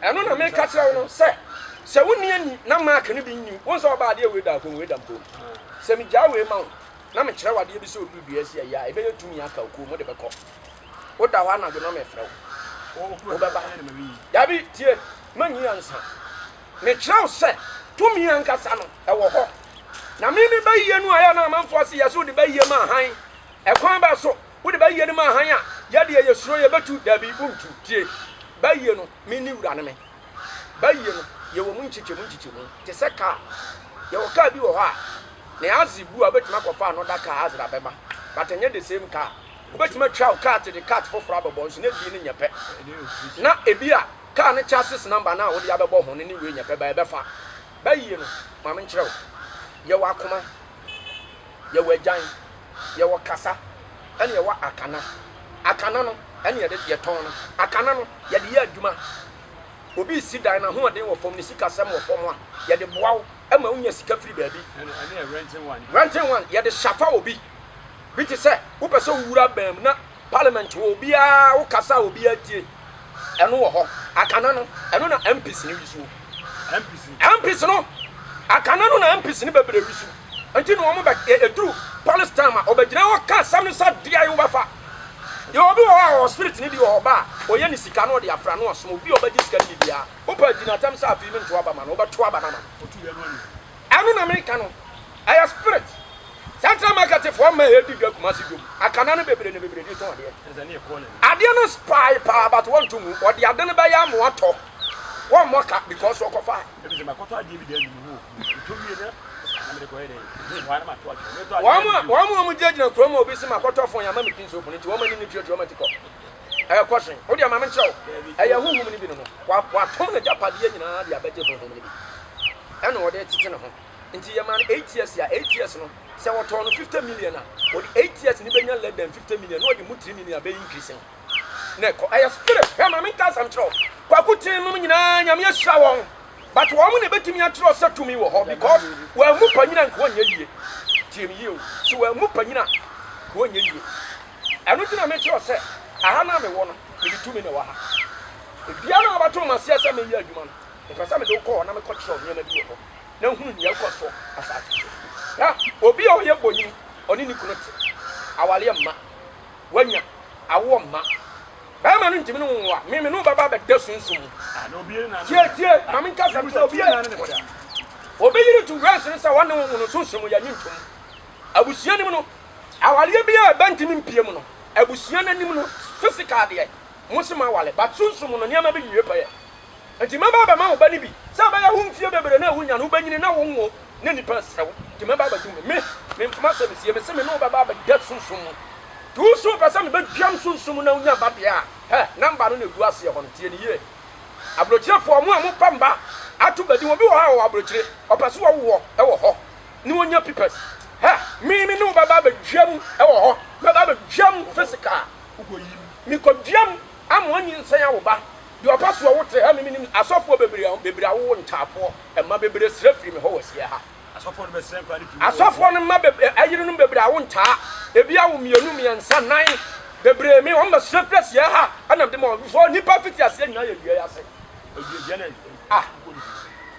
Speaker 1: Ɛno na meka kyerɛ wo no sɛ, sɛ wonni ani na mark no bi nni wo nsa ɔba adeɛ wei da akɔm wei da mpom. Sɛ megyaa wei ma wo na mekyerɛ wo adeɛ bi sɛ ɔduru dua asi ayi a, ɛbɛyɛ tumi aka okuo mu de bɛkɔ. Woda hɔ anadwo na mefrɛ wo, wobɛba? Dabi, tie, mannyi ansa. Mekyerɛw sɛ tumi ankasa no wɔ hɔ. Na me me bayie no a ɛyɛ na amanfoɔ se yɛse wode bayie ma hann, ɛkwan bɛn so? Wode bayie no ma hann a, yɛ deɛ yɛsuro yɛbɛtu? Dabi, wontu. Tie, bayie no, me ne wura no me. Bayie no, yɛwɔ mu nkyekyɛmu nkyekyɛmu, te sɛ kaa. Yɛwɔ kaa bi wɔ hɔ a, ne aze bu a, wobɛtumi akɔfa ano da kaa aze de abɛma, but ɛnyɛ the same car. Wobɛtumi atwa wo car te de cat foforɔ abɛbɔ nso, na ebi no nyɛ pɛ. Na ebi a. Car no chassis number no a wode abɛbɔ ho no ne wei nyɛ pɛ, baa ɛbɛfa. Ba yie no, ma menkyerɛ wo. Yɛwɔ akoma, yɛwɔ agyan, yɛwɔ kasa, ɛne yɛwɔ akana. Akana no, ɛne yɛde, yɛtɔn no. Akana no, yɛde yɛ adwuma. Obi resi dan no, ahoɔden wɔ fam, ne sikasɛm wɔ fam a, yɛde boa wo ma wonya sika firi baabi. Renting one, yɛde shafa obi. Bi te sɛ, wopɛ sɛ wowura baa mu na. Parliament wɔ obiara wo kasa a obiara tie ɛno wɔ hɔ akana no ɛno na MPs no wisuo MPs MPs no akana no na MPs no bɛbrɛ wisu nti na wɔn bɛ ɛduru police time a ɔbɛgyina hɔ ka asɛm no sɛ deɛ yi wobɛfa deɛ obi wɔ hɔ a ɔwɔ spirit no bi wɔ hɔ ba a ɔyɛ ne sika no ɔde afra no ɔsom obi a ɔbɛgye sika no bibiara wopɛ agyinatam sɛ afei mentoa ba ma no wobɛtoa ba no ama no Ɛno na meka no ɛyɛ spirit. Central market foɔ mma ɛdi dwa Kumasi dwom akana no bebree na bebree de tɔn adeɛ. Adeɛ no spy paa but wɔn to mu ɔde ade no bɛyɛ ama watɔ wɔn mmɔ ka because ɔkɔ fa. Wɔn a wɔn gyina gyina kurom a obi se makɔtɔ fon yɛ ama me pin soap no nti wɔn ani no tuatua wɔn ati kɔ. Ɛrekɔ so yi, wodeɛ ma menkyerɛ wo, ɛyɛ honhom no bi no no, watɔn n'agyapadeɛ nyinaa de abɛgye honhom no bi, ɛna ɔde retete ne ho, nti yɛmaa no eight years a, eight years no, sɛ wɔtɔɔ no fifty million a, ɔde eight years no bɛnya less than fifty million, na ɔde mu three million abɛ increase no, na ɛkɔ, ɛyɛ spirit, hwɛ ma menka asɛm nkyerɛ wo, Kwaku Ten nom nyinaa Nyame ahyira wɔn, but wɔn na ɛbɛtumi akyerɛ sɛ tumi wɔ hɔ, because wɔammu panyina nka ɔnyɛ yie, tie me yie o, sɛ wɔammu panyina ka ɔnyɛ yie. Ɛno nti na mekyerɛw sɛ, Aha no a mewɔ no, mede tumi na ɛwɔ ha. Baabiara no a wobɛto me aseɛ sɛ menyɛ adwuma no, mepɛ sɛ mede wo kɔ hɔ na mekɔkyerɛw nneɛma bi wɔ hɔ, na hunu nea ɛkɔ so asase so. Hwɛ! Obi a ɔyɛ bonini, ɔne ne kunu te. Awareɛ mma. Wanya. Awoɔ mma. Barima no ntumi ne wo nwo a, me mene wo bɛba abɛda sunsum mu. Tie, tie, ma menkasa nkyerɛ wo, tie! Obi yere tu wɛnhyene sɛ ɔne wo nwo no, sunsum mu, yɛnnye ntom. Abusua no mu no, Awareɛ biaa ɛba ntimi mpie mu no abusua no anim no physical deɛ mose moaware but sunsum no nneɛma bi nwie pɛyɛ nti mɛba abɛma wo ba no bi sɛ ɛbɛyɛ wo mfie bebree no a wonya no wobɛnyini na wo nwo na nipa asrɛ wo nti mɛba abɛdum me me me mfoma asɛm sie mese me ne wo bɛba abɛda sunsum mu nti wo so wopɛ sɛ mebɛdwam sunsum mu na wonya ba deɛ a hɛ number no na ɛgu aseɛ hɔ no tie no yie abrokyirefoɔ mo a mopa mba ato badin obi wɔ hɔ a ɔwɔ abrokyire ɔpɛ sɛ wɔwo wɔ wɔ hɔ na onya pipɛs. Hɛ! Me me ne wo bɛba abɛdwam wɔ hɔ, mɛba abɛdwam physical. Mekɔdwam ama wɔanyinsɛn awo ba. Deɛ ɔpɛ soɔ wo te ha, me menim asɔfoɔ bebree bebree awowo ntaafoɔ mma bebree srɛ firi me hɔ wɔ Asiɛ ha. Asɔfoɔ no bɛsrɛ nkwa no
Speaker 2: firi me hɔ wɔ Asiɛ. Asɔfoɔ no mma bebree
Speaker 1: ayerenom bebree awo ntaa, ebi awo mmienu, mmiɛnsa, nnan bebree me wɔn bɛsrɛ firi Asiɛ ha ɛna mede ma wɔn. Before nnipa fiti aseɛ nyinaa yɛ dua yi ase. Dua dua na
Speaker 2: ah.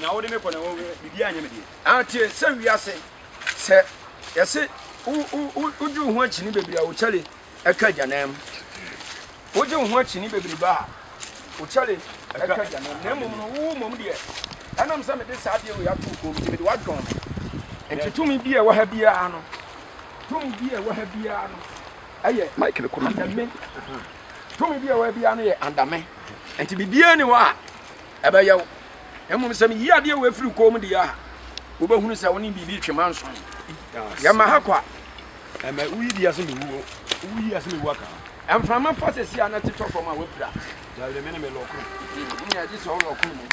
Speaker 2: na wode me kɔ na biribi anyɛ me deɛ atie sɛ wiase
Speaker 1: sɛ yɛse wogye wo ho akyini bebree a wokyɛle ɛka agyanam wogye wo ho akyini bebree ba a wokyɛle ɛka agyanam na mmom no wowo mmom deɛ ɛnam sɛ mede saa adeɛ wei ato kɔm nti mede woadwɔn me nti tumi bi a ɛwɔ ha biara no tumi bi a ɛwɔ ha biara no ɛyɛ mike no kɔma me Tumi bi a ɛwɔ ha biara no yɛ adame, nti biribiara ni hɔ a ɛbɛyɛ wo. Mmom sɛ meyi adeɛ wɔ afiri kɔn mu deɛ a, wobɛhunu sɛ wo ne biribi twe manson. Yɛma ha kwa. Ɛmɛ
Speaker 2: woyi deɛ ase mewuo, woyi ase mewu aka. Mframa fa sɛsi
Speaker 1: a na tetɔ fam a wapira. Dawere me ne me
Speaker 2: lɔkono. Ɛne agye sɛ
Speaker 1: wo lɔkono mu.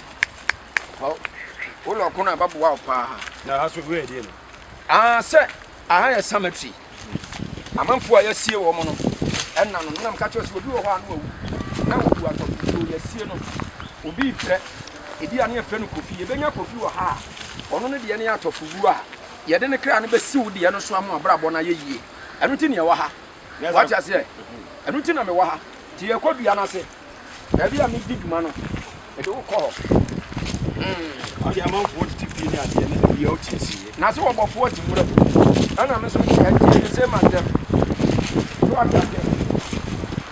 Speaker 1: Wo lɔkono a bɛboa wo paa. Na ha so wei ɛdeɛ
Speaker 2: no. Ah, sɛ aha
Speaker 1: yɛ cemetery. Amanfoɔ a yɛasie wɔn no, ɛnna no. Nam ka kyerɛ sɛ obi wɔ hɔ a na wawu, na wɔbu atɔfo tuo, yɛasie no. Obi reprɛ, ebia na yɛfrɛ no Kofi. Yɛbɛnya Kofi wɔ ha a ɔno no deɛ no yɛ atɔfobuo a yɛde ne kra no bɛsi wo deɛ no so ama w'abrabɔ no ayɛ yie. Ɛno nti na yɛwɔ ha. Woate aseɛ? Ɛno nti na mewɔ ha. Nti yɛrekɔ dua no ase. Baabi a medi dwuma no, mede wo kɔ hɔ. Ɔde
Speaker 2: amanfoɔ tete fie ne adeɛ ne baabi a ɔte sie. Na sɛ ɔbɔfoɔ te mmerɛ
Speaker 1: mu. Ɛna me so nti ɛnti ɛne sɛ ma dɛm. So ɔte aseɛ.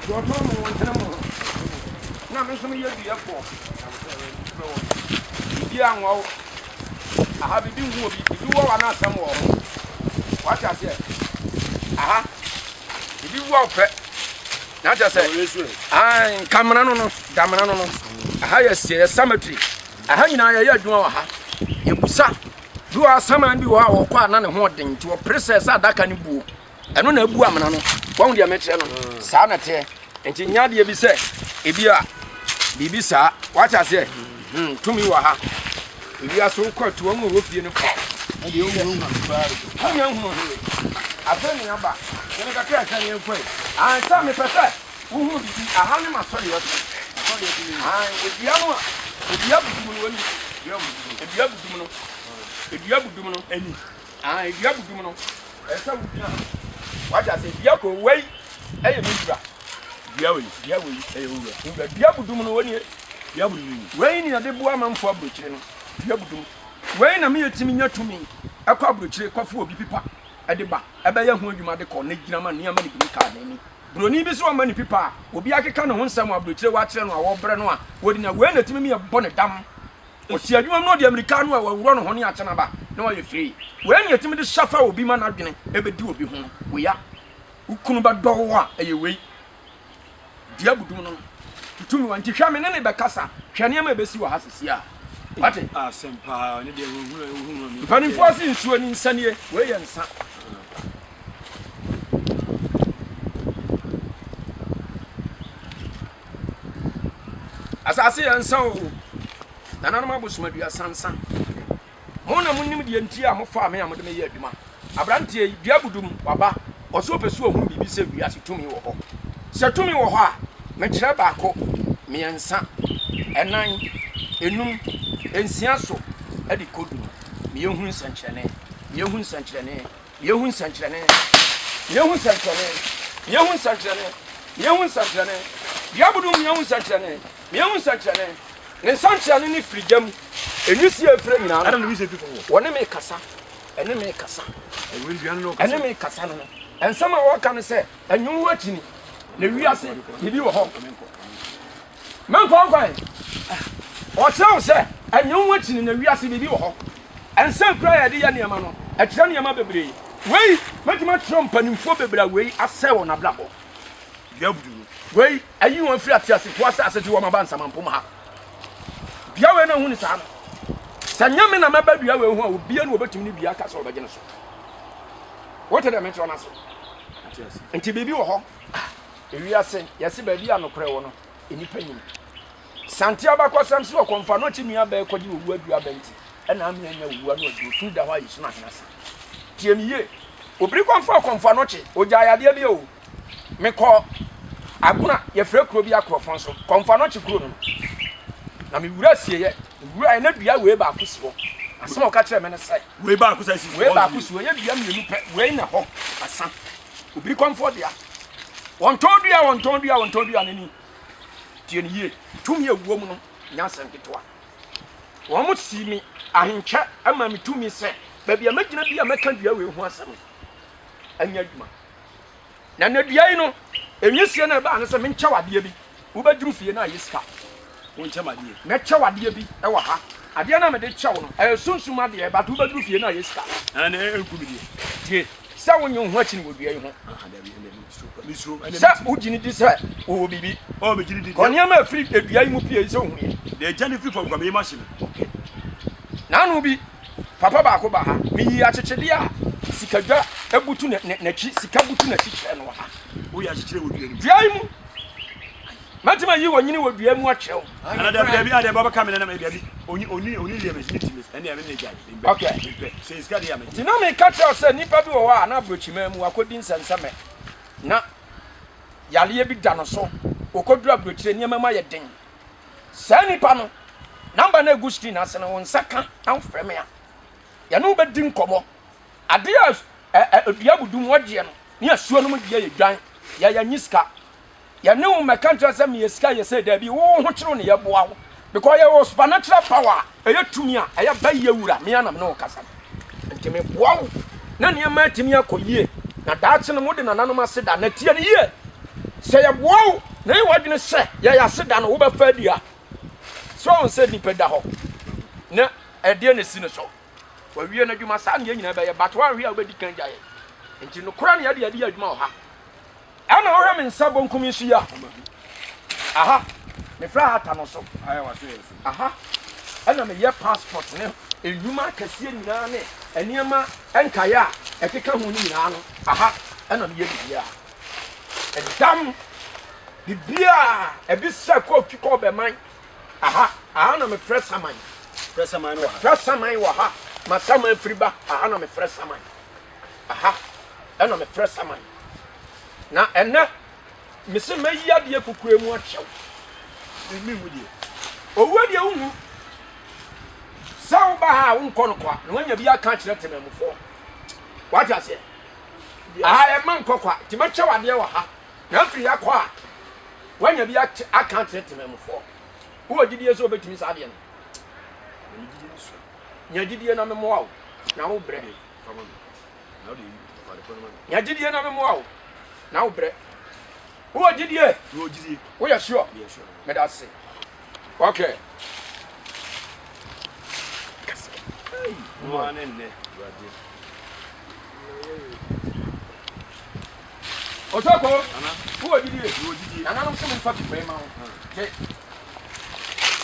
Speaker 1: Deɛ ɔtɔn mo wɔn tene mo ho. Na me nso meyɛ duafoɔ. Bibi anwa wo. Aha bibi nhu obi. Bibi wɔ wa no asɛm wɔ ho. Wate aseɛ. Aha. Bibi wɔ wo pɛ. na akyerɛ sɛ ae nkamena no no damena no no aha yɛ seɛ yɛ cemetery aha nyinaa yɛyɛ adwuma wɔ ha yɛbusa bi wɔ asaman bi wɔ hɔ a wɔkɔ a na ne ho ɔden nti wɔpere sɛ sɛ adaka no buo ɛno na abu amena no wɔn deɛ mekyerɛ no mm. saa na teɛ nti nya deɛ bi sɛ ebi a biribi saa wate aseɛ Hmm, tumi wɔ ha. Ewiase wokɔ atu wɔn a ɛwɔ fie no paw. Na deɛ ɔmu ehu ase paa no. Ɔmu yɛn hunu hwee. Afei ne aba. Yɛn kakra ɛsɛ ne yɛn kɔ yi. Ansa mepɛ sɛ wohunu bibi. Aha ne ma sɔre yɛ so. Sɔre yɛ so ne. Aha edua no a. Edua budum no ani. Edua budum. Edua budum no. Edua budum no ani. Aha edua budum no. Ɛsɛ wogyina. Wate ase edua kɔ wei. Ɛyɛ me wura. Dua wei,
Speaker 2: dua wei, ɛyɛ owura. Owura, dua budum no,
Speaker 1: wɔnie, dua budum no.
Speaker 2: Wei ne yɛde boa amanfoɔ
Speaker 1: aburokyire no, dua budum. Wei na me yɛtumi nya tumi kɔ aburokyire kɔfa obi pipa de ba, bɛyɛ ho adwuma de kɔ, na gyina ma nneɛma no bi ne kaa n'ani. Buroni bi so ama ne pipa a, obi akeka ne ho nsɛm wɔ aburokyire wɔakyerɛ no a, wɔbrɛ no a, ɔdi na wei na ɛtumi me yɛbɔ ne dam. Ɔsi adwuma mu na ɔde amirika no a, wɔaworɔ ne ho ne akyɛ no aba na wayɛ free. Wei ne yɛtumi de sha fa obi ma n'adwene bɛdi obi ho, wei a. Wo kunu bɛdɔ wo a, ɛyɛ wei. Dua abodum no, tutu mu. Nti hwɛ, me ne ne bɛkasa. Hwɛ nneɛma a ɛbɛsi wɔ ha sesie a. Wate? Mpanimfoɔ se nsuo ni, nsa nie. Wei yɛ nsa. Asase yɛ nsa o. Nananom abosom aduasa nsa. Mo na monim deɛ nti a mofaa me a mode me yɛ adwuma. Aberanteɛ yi, dua abudu mu, waba, ɔse ɔpɛ sɛ ɔhunu biribi sɛ wiase tumi wɔ hɔ. Sɛ tumi wɔ hɔ a, mekyerɛ baako, mmiɛnsa, ɛnan, ɛnum, ɛnsia so de kɔ du no, meyɛ hunu nsɛnkyerɛnne, meyɛ hunu nsɛnkyerɛnne. Yɛhu nsɛnkyerɛnne, yɛhu nsɛnkyerɛnne, yɛhu nsɛnkyerɛnne, yɛhu nsɛnkyerɛnne, biabodum yɛhu nsɛnkyerɛnne, yɛhu nsɛnkyerɛnne, ne nsɛnkyerɛnne ne firi gyam, enwisi a efiri nyinaa no, wɔne
Speaker 2: me kasa,
Speaker 1: ɛne me kasa, ɛne me kasa no, nsɛm a wɔka no sɛ, ɛnwo ho akyini, na wiase, biribi wɔ hɔ. Menkɔ nkwan. Ɔkyerɛ wo sɛ ɛnyɛ wo akyi no na wiase biribi wɔ hɔ. Nsa kura a yɛde yɛ nneɛma no, ɛkyerɛ nneɛma bebree. Wei, mɛtumi akyerɛ wo mpanimfoɔ bebree a wei asɛe wɔn abrabɔ. Dua budu no, wei ayi wɔn afiri ateasefoɔ asase so wɔ Maba Nsamampom ha. Dua wei na ɛho ni saa no. Sɛ nyɛ me na mɛba dua wei ho a, obiara na wɔbɛtumi ne dua aka sɛ wɔbɛgye no so. Wote deɛ mekyerɛ no ase? Nti biribi wɔ hɔ. Ewiase, yɛse baabi a nokorɛ wɔ no, nnipa nnim. Sante abakɔsɛm se ɔkɔmfo ano kye nua bɛɛ kɔgye owu aduro aba nti ɛna amene anya owu ano aduro tumi da hɔ a yɛsunu ahene ase. Tie me yie. Obiri kɔmfo ɔkɔmfo ano kye, ogyae adeɛ bi o. Mekɔ Agona, yɛfrɛ kuro bi Akorɔfɔn so, kɔmfo ano kye kuro no no. Na me wura sieɛ, me wuraɛ na dua wei baako si hɔ. Asɛm a ɔka kyerɛɛ me ne sɛ. Wei baako sɛ si hɔ. Wei
Speaker 2: baako si hɔ, ɛyɛ dua
Speaker 1: mmienu pɛ, wei na hɔ, asa. Obi kɔmfoɔ dea. Wɔntɔn dua, wɔntɔn dua, wɔntɔn dua no ni. Tie no yie. Tumi a ɛwɔ mu no nyɛ asɛm ketewa. Wɔn si me ahenkyɛ ma me tumi sɛ baabi a mɛgyina bi a mɛka dua wei ho asɛm no anya adwuma. Na na dua yi no, ɛnwisie no ɛbaa no sɛ menkyɛw adeɛ bi. Wobɛduru fie no ayɛ sika wo nkyɛm adeɛ. Mɛkyɛ wo adeɛ bi wɔ ha. Adeɛ no a mede kyɛ wo no, ɛyɛ sunsum adeɛ, but wobɛduru fie no ayɛ sika. Ɛnde ɛnku me deɛ. Tie, sɛ wonnye wo ho akyini wɔ dua yi ho. Ah, dabi, ɛnde mesuro, mesuro, ɛnde metumi. Sɛ wogye no di sɛ wowɔ biribi. Oh, megye no di. Kɔ nneɛma a ɛfiri dua yi mu pue yi sɛ wohu yɛ. Deɛ ɛgya no firi fam kɔ, meyɛ m'ahye no. Okay. Naano bi, papa baako ba ha, meyii akyekyedeɛ a sikadwa butu n'akyi, sika butu n'akyi kyerɛɛ no wɔ ha. Woyɛ akyekyerɛ wɔ dua no mu? Dua yi mu. Mɛtumi ayi onyin wɔ dua mu akyerɛ wo. Ɛna daabi daabi a daabi
Speaker 2: ɔbɛka me nanam ɛyɛ daabi onyi onyi onyi deɛ mɛtumi ti mɛtumi ɛne ɛme ne gya yi mpɛ Okay. mpɛ sɛ esika
Speaker 1: deɛ amɛgye.
Speaker 2: Nti na meka kyerɛ wo sɛ nnipa
Speaker 1: bi wɔ hɔ a na aburokyiman mu wakɔdi nsɛnsɛmɛ na yareɛ bi da no so ɔkɔduru aburokyire nneɛma mu ayɛ den. Saa nnipa no number no agu screen ase no wo nsa ka na wofrɛ me a yɛne wo bɛdi nkɔmmɔ Adeɛ a ɛ ɛ dua budu mu wɔgyeɛ no ne asuo no mu deɛ yɛ dwan yɛ yɛnye sika yɛne wo mɛka nkyerɛ sɛ meyɛ sika yɛ sɛ daabi wo ho kyerɛ ne yɛboa wo because yɛwɔ supernatural power a ɛyɛ tumi a ɛyɛ ba yɛ wura me anam ne wo kasa no nti meboa wo na nneɛma atumi akɔ yie na daakye no mo de nananom ase da na tie no yie sɛ yɛboa wo na yɛ wadwene sɛ yɛyɛ ase da no wobɛfa adi a sɛ ɔn sɛ nipa da hɔ na ɛdeɛ na ɛsi no so Wawie n'adwuma. Saa nea nyinaa bɛyɛ, but wanhwɛ a wobɛdi kan agya yɛ. Nti nokorɛ na yɛde yɛde yɛ adwuma wɔ ha. Ɛna wohwɛ me nsa bonkum yi so yi a, aha, mefrɛ aha ta no so. Aha, ɛna meyɛ passport ne nnwuma akɛseɛ nyinaa ne nneɛma nkaeɛ a ɛkeka ho no nyinaa no. Aha, ɛna meyɛ biribiara. Ɛdam, biribiara, ɛbi sɛ kɔɔtwi kɔɔ bɛman, Aha, aha na mefrɛ saman. Frɛ saman no wɔ ha. Frɛ saman wɔ ha. Ma saman firi ba. Aha na mefrɛ saman. Aha ɛna mefrɛ saman. Na ɛnɛ mese mɛyi adeɛ kukura mu akyɛw. Ɛmi hu deɛ. Owuo deɛ wohu. Sɛ woba ha a wonkɔ no kwa na woanya bi aka akyerɛ temamufoɔ. Wate aseɛ? Aha ɛma nkɔ kwa. Nti mɛkyɛw adeɛ wɔ ha. Na afiri ya kɔ a, wanya bi ate, aka akyerɛ temanmufoɔ. Wowɔ gyidie sɛ wobɛtumi saa adeɛ no? Na me gyidie no sua. Nya gyidie na memmoa wo, na wo brɛ. Nya gyidie na memmoa wo, na wo brɛ. Wowɔ gyidie? Woyɛ sure? Meda ase. Okay.
Speaker 2: Mmoa ne nnɛ.
Speaker 1: Ɔsɔkɔ, Nana, wo wɔ gyidie? Mewɔ gyidie. Nananom se menfa pipa yi ma wo. Gye.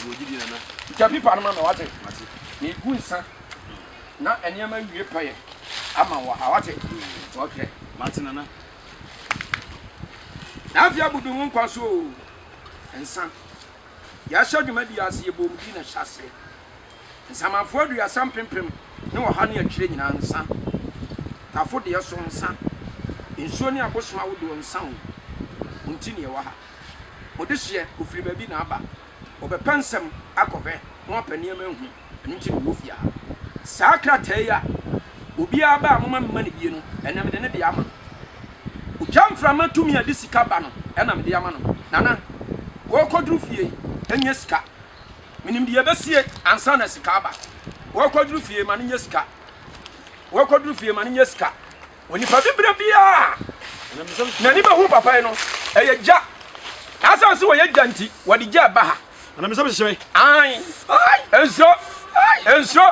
Speaker 2: Mewɔ gyidie, Nana. Gya pipa no ma me,
Speaker 1: wate? Mate. Megu nsa na nneɛma awie pɛyɛ ama wo ha, wate? Nti ɔhwɛ. Mate, Nana. Na afei abudu ho nkwa so o. Nsa. Yɛahyɛ dwumadie ase, yɛbɔ mu din na hyɛ aseɛ. Nsamanfoɔ aduasa mpempem ne ɔha ne akyire nyinaa nsa. Tafo deɛ so nsa. Nsuo ne abosom ahodoɔ nsa o. Mo nti na yɛwɔ ha. Mo dehyeɛ ɔfiri baabi na aba. Ɔbɛpɛ nsɛm akɔ hwɛ na wapɛ nneɛma ahu. Ɛno nti na ɔwɔ fie ha. Saa krataa yi a obiara ba a momma memma no bie no, ɛnnɛ mede ne deɛ ama no. Ogya mframa tumi a ɛde sika ba no na mede ama no. Nana, worekɔduru fie yi, nyɛ sika. Menim deɛ ɛbɛsie ansa na sika aba. Wɔkɔduru fie ma no nyɛ sika. Wɔkɔduru fie ma no nyɛ sika. Onipa bi berɛ biara n'ani bɛhu papa yi no ɛyɛ gya. Asan sɛ wɔyɛ gya nti wɔde gya ɛba ha. Anamisɛm hyehyɛ me.
Speaker 2: Ae. Nsuro.
Speaker 1: Nsuro.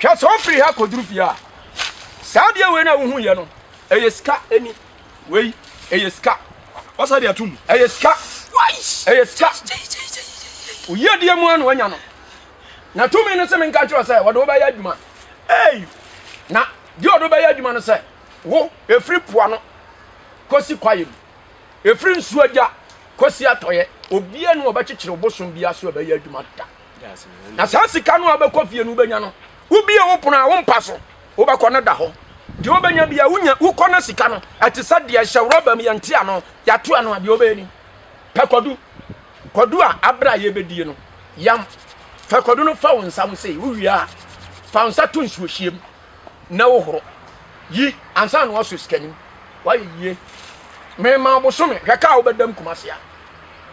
Speaker 1: Hwɛ, sɛ ɔfiri ha kɔduru fie a, saa adeɛ wei no a wohu yɛ no, ɛyɛ sika ɛni wei ɛyɛ sika wasa de atum
Speaker 2: ɛyɛ sika
Speaker 1: ɛyɛ sika oyie deɛ mu ano anya no na tumi no sɛ menka kyerɛ sɛ wɔde wobɛyɛ adwuma ei na deɛ ɔde wobɛyɛ adwuma no sɛ wo ɛfiri poa no kɔsi kwaeɛ mu ɛfiri nsuo agya kɔsi atɔeɛ obia ne wɔbɛkyekyere wo bosom bia so ɛbɛyɛ adwuma da na saa sika no a wobɛkɔ fie no wobɛnya no wobie wo pono a wompa so wobɛkɔ no da hɔ deɛ wobɛnya bia wonya wokɔ no sika no ɛte sɛ deɛ hyɛ rɔba mu yɛnte ano yɛato ano a deɛ wobɛyɛ ni pɛ kwadu kwadu a aberɛ a yɛbɛdie no yam fɛ kwadu no fa wo nsa ho sei wowie a fa wo nsa to nsuohyiam na wo horo yi ansa na wɔsɔ sika nim wayɛ yie mema ɔbosome hwɛ kaa wobɛdam kumase a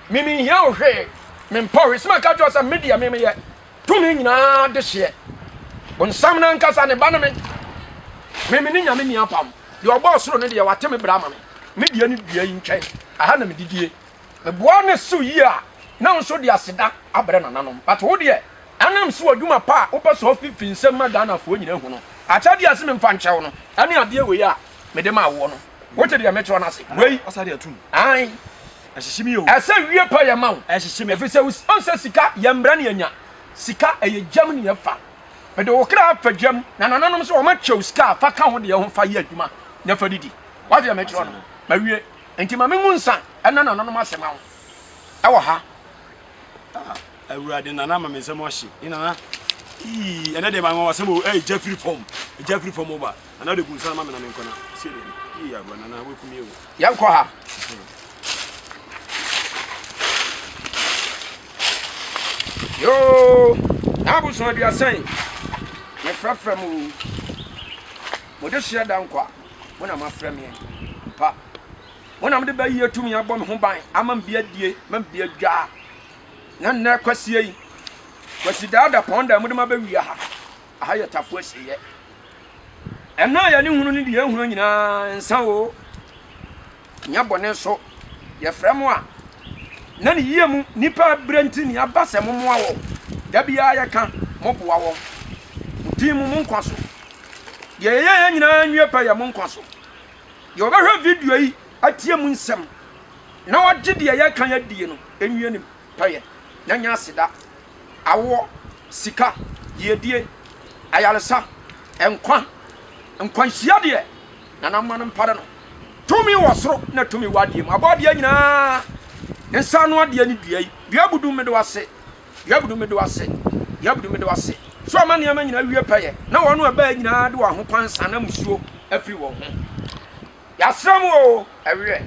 Speaker 1: me menhia wo hwee mempɔ hwe sima ka kyerɛ sɛ me deɛ me meyɛ tumi nyinaa de hyeɛ bonsam no ankasa ne ba no me me me ne nyame ni apam deɛ ɔbɔ ɔsoro no deɛ wate me bra ma me me deɛ ne dua yi ntwɛn aha na medidie Meboa no so yie a, na nso de aseda abrɛ nananom. But wo deɛ, ɛnam so adwuma pa a wopɛ sɛ ɔfi fi nsam ma Ghanafoɔ nyinaa hu no, akyɛdeɛ a ɛse memfa nkyɛ wo no, ɛne adeɛ wei a mede maa woɔ no. Wote deɛ mekyerɛ no ase wei?
Speaker 2: Aane. Ɛsɛ wie pɛ yɛma
Speaker 1: wo, ɛfiri sɛ wohu
Speaker 2: sɛ sika
Speaker 1: yɛmbrɛ ne yɛnya. Sika, ɛyɛ gyam ne yɛfa. Mede wo kra fa gyam, na nananom nso wɔakyɛ wo sika a, fa ka wo deɛ ho fa yɛ adwuma na fa didi. Woate deɛ mekyerɛ no? Mawie. Enti ma mengu nsa ɛna nananom ase ma wo ɛwɔ ha. Ah, awurade
Speaker 2: nana ma me nsɛm ahye. Ni nana. Ii, ɛnɛ deɛ manwa wasɛm o. Ɛy, gya firi fam. Gya firi fam ba. Nana de gu nsa ma me na me nkɔna. Sie de. Ii, awurade nana wakumi o. Yɛnkɔ ha.
Speaker 1: Yoo, n'abosoɔ aduasa yi. Mefrɛfrɛ mu. Mode hyɛ da nkwa. Mo na moafrɛ me ampa. Mo na mode bɛyi atumi abɔ me ho ban ama me bi adie, ma me bi adwaa. Na nnɛ kwasie yi, kwasidaa da pɔn da mode ma bɛwia ha. Aha yɛ tafo asieɛ. Ɛna a yɛne hunu ne deɛ ɛhunu nyinaa nsa o. Hia bɔne nso yɛ frɛ mo a na ne yie mu nipa brɛ nti ne aba sɛ mo moa wɔn. Da biara yɛ ka mo boa wɔn. Mo din mu mo nkwa so. Deɛ yɛ yɛ yɛ nyinaa nwie pɛ yɛ mo nkwa so. Deɛ ɔbɛhwɛ video yi atie mu nsɛm na wagye deɛ yɛ ka yɛ die no nwie nim. pɛyɛ, na nya aseda, awoɔ, sika, yiedie, ayaresa, nkwa, nkwanhyia deɛ Nanamma no mpare no, tumi wɔ soro na tumi wɔ adeɛ mu, abɔadeɛ nyinaa nsa ano adeɛ ne dua yi, dua budu mede wase, dua budu mede wase, dua budu mede wase, sɛ ɔma nneɛma nyinaa wie pɛyɛ, na wɔn a ɛbaa nyinaa de wɔn ahokwan san na musuo afiri wɔn ho. Yasra mu oo ɛweɛ.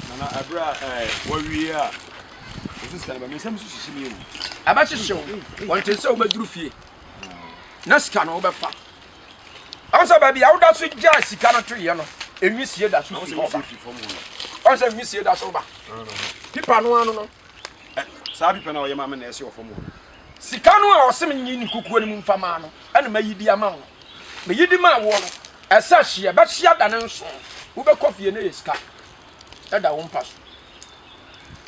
Speaker 2: Nana ɛberɛ a ɛɛ wawie a ɔsi sika no ba me nsam nso hyehye me o. Ɛbɛhyehye wo
Speaker 1: wɔnte sɛ wobɛduru fie na sika no wobɛfa ɔn sɛ baabi a woda so gyaa sika no toyɛ no nwisie da so fi hɔ ba ɔn sɛ nwisie da so ba pipa no ano no saa
Speaker 2: pipa no a ɔyɛ maame na ɛsi wɔ fam hɔ no Sika no a
Speaker 1: ɔse menyi ne kukuo no mu mfa maa no ɛna mayi di ama wo no, meyi di maa woɔ no, ɛsɛ hyeɛ, bɛhyeɛ da ne nso, wobɛkɔ fie na ɛyɛ sika ɛda wo mpa so.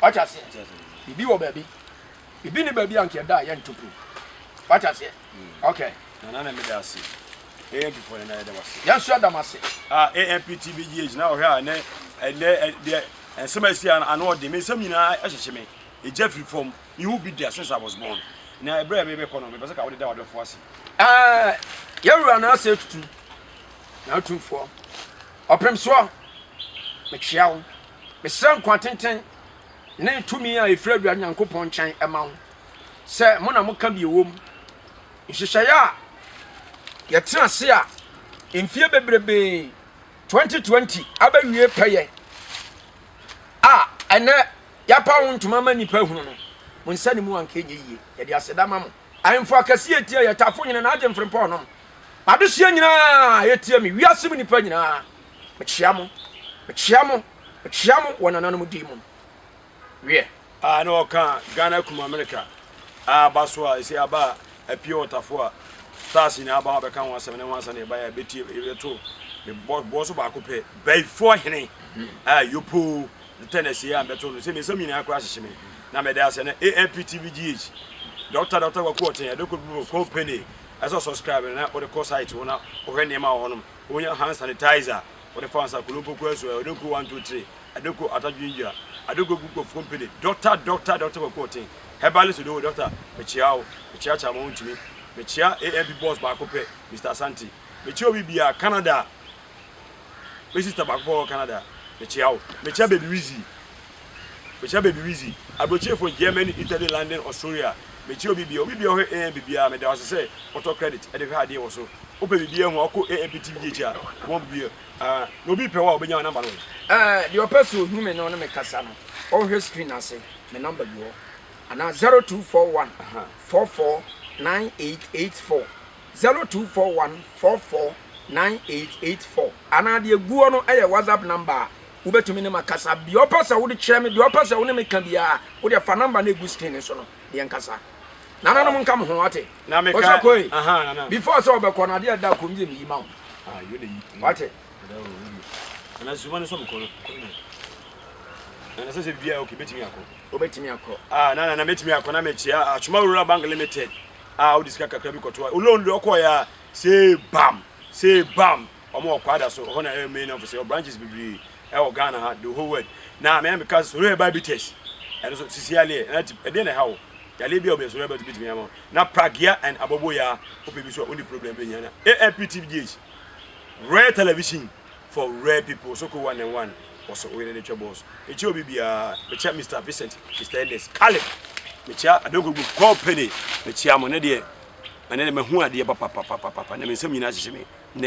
Speaker 1: Wate aseɛ? Bibi wɔ baabi. Bibi ne baabi a nka ɛda a yɛnto po. Wate aseɛ? Okay. Nana na mede
Speaker 2: ase. AMP fo ne na yɛda wase. Yɛn nso yɛda mo ase.
Speaker 1: Ah, AMP TV
Speaker 2: GH na ɔhwɛ a ne ɛnɛ deɛ nsɛm a ɛsi ano ɔde me nsɛm nyinaa ɛhyehye me. Egya firi fam. you will be there since I was born. Na ɛberɛ a merebɛkɔ no, mepɛ sɛ ka wode da w'adɔfoɔ ase. Ɛɛ,
Speaker 1: yɛwura no asɛ tutu, na atumfoɔ, ɔpem soɔ, metwea wo, mesrɛ nkwa tenten ne tumi a ɛfiri Awurade Nyankopɔn nkyɛn ma wo, sɛ mo na moka bi ɛwom, nhyehyɛeɛ a yɛtena ase a mfie bebrebee 2020 abɛwie pɛyɛ a ɛnɛ Yɛapaw wo ntoma ama nnipa ahunu no, mo nsa ne mu anka ɛnyɛ yiye. Yɛde aseda ma mo. Ahemfo akɛse a etia yɛn, Tafo Hene na Agyenfrempɔn nom, M'adehyeɛ nyinaa a etia me, wiase mu nnipa nyinaa, mekyea mo, mekyea mo, mekyea mo wɔ nananom din mu. Wiɛ. a na ɔka
Speaker 2: Ghana kum America a aba so a ɛsɛ aba a apue wɔ Tafoa Stars nyinaa aba ho abɛka ho asɛm ne ho ansa na yɛbaeɛ a ɛbɛtie yɛto ne bɔ bɔ so baako pɛ Baifoɔ hene a yopoo ntɛ na siei a mbɛto no sɛ me nsam nyinaa koraa hyehye me na mede asɛ na AMP TV GH Doctor Doctor Kwaku Ɔten ɛde kɔ Google company ɛsɛ ɔ subscribe na ɔde kɔ site hɔ na ɔhwɛ nneɛma wɔ hɔnom ɔnya hand sanitizer ɔde fa nsa kono mpokua nsuo ɔde kɔ 123 ɛde kɔ Atadwendwa ɛde kɔ Google company Doctor Doctor Doctor Kwaku Ɔten herbalist do Doctor mekyea wo mekyea Kyama Wontumi mekyea AMP boss baako pɛ Mister Asante mekyea obi biara Canada. Me sister baako pɛ ɔwɔ Canada mekyea wo. Mekyea baby Wizzy mekyea baby Wizzy Abrokyire fo Germany Italy London Australia mekyea obi biaa obi biaa ɔhwɛ AMP biaa meda wo ase sɛ wotɔ credit de hwɛ adeɛ wɔ so wopɛ biribi ahu a wokɔ AMP TV gye akyi a wɔn bebue ah na obi pɛ wo a obenya wo number no wɔ he? Eh deɛ ɔpɛ sɛ
Speaker 1: ohu me ne ɔne me kasa no ɔnhwɛ screen ase me number gu hɔ anaa zero two four one four four nine eight eight four. zero two four one four four nine eight eight four anaa deɛ egu hɔ no yɛ whatsapp number a wobɛtumi ne ma kasa deɛ ɔpɛ sɛ wode kyerɛ me deɛ ɔpɛ sɛ wo ne me ka biara wodeɛ fa number no egu screen so no deɛ nkasa nana no mo nka mo ho wate ɔsɛ kɔe
Speaker 2: before
Speaker 1: sɛ ɔbɛkɔ no adeɛ ɛda kɔm yɛ meyi ma wo
Speaker 2: wate na zuma no sɛ mekɔ no kɔe dɛ na sɛ sɛ bia ok bɛtumi akɔ wobɛtumi akɔ
Speaker 1: ah na na mɛtumi akɔ
Speaker 2: na mekyia atwoma wura bank limited a ɔde sika kakra bi kɔto a oloan deɛ ɔkɔɔɛ a see bam see bam ɔmo wɔ kwada so ɔhɔ na ɛyɛ main office ɛwɔ branches bebree ɛwɔ Ghana ha the whole world na mea meka sɛ sɔrɔ ɛba bi test ɛno so sisi aleɛ na ti ɛdeɛ na ɛha wo yaleɛ bi a ɔbɛn sɔrɔ ɛba ti bitumi ama na pragea and abɔbɔ ya wopɛ bi so a ɔni problem bɛnya na AMPTVGH Royal Television for rare people so ko one and one wɔso oyere ne twɛ boss mekyia obi biara mekyia Mr Vincent Mr Ernest Caleb mekyia Adogogu company mekyia mo ne deɛ ɛne ne mahu adeɛ papapapapapa na me nsɛm nyinaa hyehye me